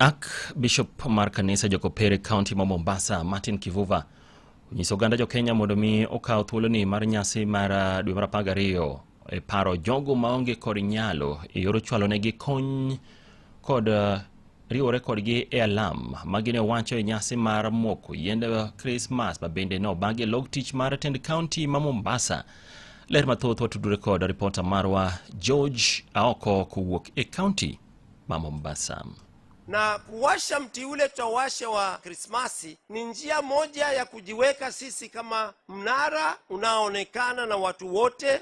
Ak Bishop mar kanisa jokopere kaunti ma Mombasa Martin Kivuva onyiso oganda jokenya mondo mi okaw thuoloni mar nyasi mar ah, dwe mar apar gariyo e paro jogo maonge kod nyalo e yor chwalonegi kony kod ah, riwore kodgi e alam ma gine wacho e nyasi mar moko yiend Krismas ma bende ne obagi e log tich mar tend kaunti ma Mombasa. Ler mathoth watudore kod ripota marwa George Aoko kowuok e kaunti ma Mombasa na kuwasha mti ule tawashe wa Krismasi ni njia moja ya kujiweka sisi kama mnara unaoonekana na watu wote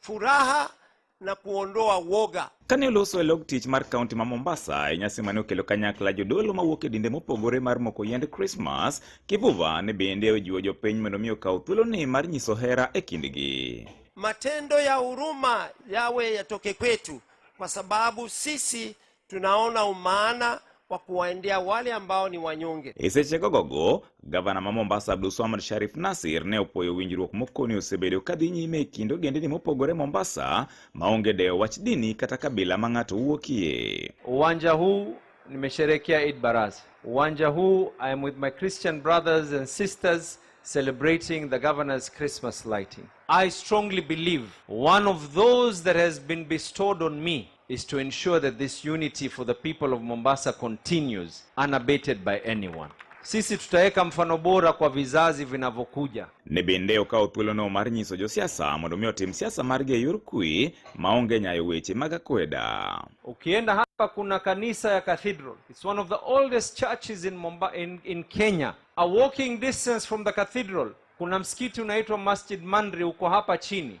furaha na kuondoa woga. Kane oloso e log tich mar kaunti ma Mombasa e nyasi mane okelo kanyakla jodolo mawuok e dinde mopogore mar moko yiend Krismas, Kivuva ne bende ojiwo jopiny mondo mi okaw thuoloni mar nyiso hera e kindgi. Matendo ya huruma yawe yatoke kwetu, kwa sababu sisi Tunaona umaana wa kuwaendea wale ambao ni wanyonge. isechegogogo gavana ma mombasa abdulswamad sharif nasir ne opwoyo winjruok mokoni osebedo ka dhi nyime e kind ogendini mopogore mombasa maonge dewo wach dini kata kabila ma ng'ato wuokie Uwanja huu nimesherekea Eid Baraza. Uwanja huu I am with my Christian brothers and sisters celebrating the governor's Christmas lighting. I strongly believe one of those that has been bestowed on me is to ensure that this unity for the people of Mombasa continues unabated by anyone. Sisi tutaweka mfano bora kwa vizazi vinavyokuja. ne bende okawo thuolono mar nyiso josiasa mondo mi otim siasa margi e yor kwe maonge nyayo weche mag akweda. Ukienda hapa kuna kanisa ya Cathedral. It's one of the oldest churches in Mumbai, in, in Kenya. A walking distance from the cathedral kuna msikiti unaitwa Masjid Mandri uko hapa chini.